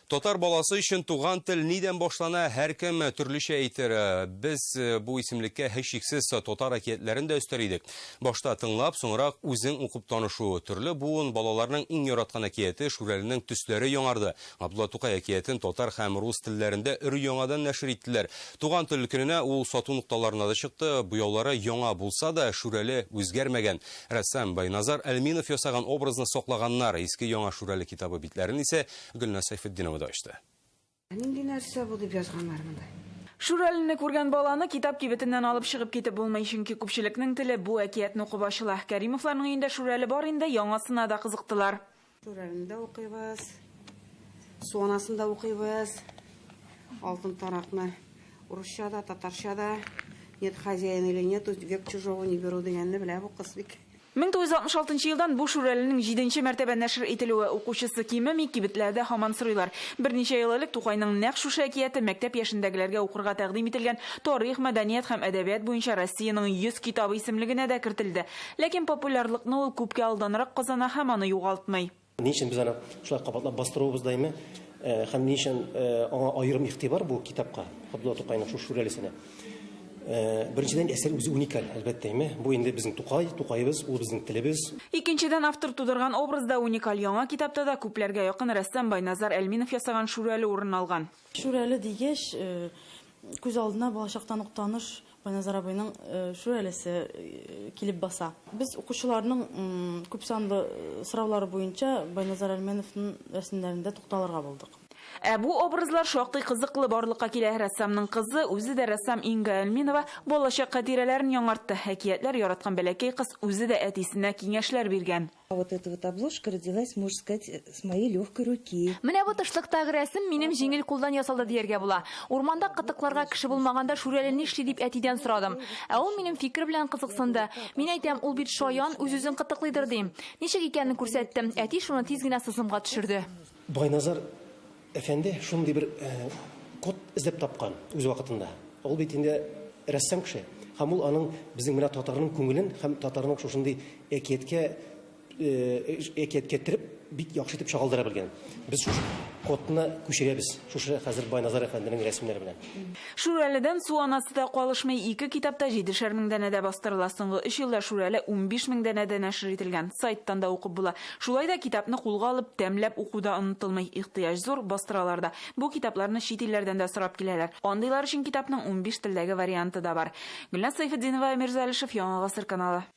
Татар баласы өчен туган тел нидән башлана, һәркем төрлечә әйтер. Без бу исемлеккә һичшиксез татар әкиятләрен дә өстәр идек. Башта тыңлап, соңрак үзең укып танышу. Төрле буын балаларның иң яраткан әкияте Шүрәленең төсләре яңарды. Габдулла Тукай әкиятен татар һәм рус телләрендә өр-яңадан нәшер иттеләр. Туган тел көненә ул сату нокталарына да чыкты. Буяулары яңа булса да, Шүрәле үзгәрмәгән. Рәссам Байназар Әлминов ясаган образны саклаганнар, Иске-Яңа Шүрәле китабы битләрен исә Гөлназ Сәйфетдинова да ачты. Нинди нәрсә бу, дип язганнар монда. Шүрәлене күргән баланы китап кибетеннән алып чыгып китеп булмый, чөнки күпчелекнең теле бу әкиятне укып ачыла. Кәримовларның өендә Шүрәле бар инде, яңасына да кызыктылар. Шүрәлен дә укыйбыз. Суанасын да укыйбыз. Алтын таракны урысча да, татарча да. Нет хозяина или нет, век чужого не беру дигәнне белә бу кыз бик. 1966 елдан бу Шүрәленең җиденче мәртәбә нәшер ителүе укучысы кимеми, кибетләрдә һаман сорыйлар. Берничә ел элек Тукайның нәкъ шушы әкияте мәктәп яшендәгеләргә укырга тәкъдим ителгән Тарих, мәдәният һәм әдәбият буенча Россиянең 100 китабы исемлегенә дә кертелде. Ләкин популярлыкны ул күпкә алданрак казана һәм аны югалтмый. Ни өчен без аны шулай кабатлап бастырубыз даими һәм ни өчен аңа аерым игътибар бу китапка, Габдулла Тукайның шул Шүрәлесенә? Беренчедән, әсәр үзе уникаль, әлбәттә. Бу инде безнең Тукай, Тукаебыз, ул безнең телебез. Икенчедән, автор тудырган образ да уникаль, яңа китапта да күпләргә якын рәссам Байназар Әлминов ясаган Шүрәле урын алган. Шүрәле дигәч, күз алдына балачактан ук таныш Байназар абыйның Шүрәлесе килеп баса. Без укучыларның күпсанлы сораулары буенча Байназар Әлмәновның рәсемнәрендә тукталырга булдык. Ә бу образлар шактый кызыклы барлыкка килә. Рәссамның кызы, үзе дә рәссам Инга Әлминова балачак хатирәләрен яңартты. Әкиятләр яраткан бәләкәй кыз үзе дә әтисенә киңәшләр биргән. А вот эта вот обложка родилась, можно сказать, э, с моей легкой руки. Менә бу тышлыктагы рәсем минем җиңел кулдан ясалды дияргә була. Урманда кытыкларга кеше булмаганда Шүрәле нишли дип әтидән сорадым. Ә ул минем фикер белән кызыксынды. Мин әйтәм, ул бит шаян, үз-үзен кытыклыйдыр дим. Ничек икәнен күрсәттем. Әти шуны тиз генә сызымга төшерде. Байназар Әфәнде шундый бер код эзләп тапкан үз вакытында. Ул бит инде рәссам кеше. Һәм ул аның безнең менә татарның күңелен һәм татарның шушындый әкияткә әкияткә кереп бик яхшы итеп чагылдыра белгән. Без шушы кодны күчерәбез. Шушы хәзер Байназар әфәнденең рәсемнәре белән. Шүрәледән су анасы да калышмый, ике китап та җидешәр мең данәдә бастырыла. Соңгы өч елда Шүрәле унбиш мең данәдә нәшер ителгән. Сайттан да укып була. Шулай да китапны кулга алып, тәмләп уку да онытылмый. Ихтыяҗ зур, бастыралар да. Бу китапларны чит илләрдән дә сорап киләләр. Андыйлар өчен китапның унбиш телдәге варианты да бар. Гөлназ Сәйфетдинова, Эмир Залишев, Яңа гасыр каналы.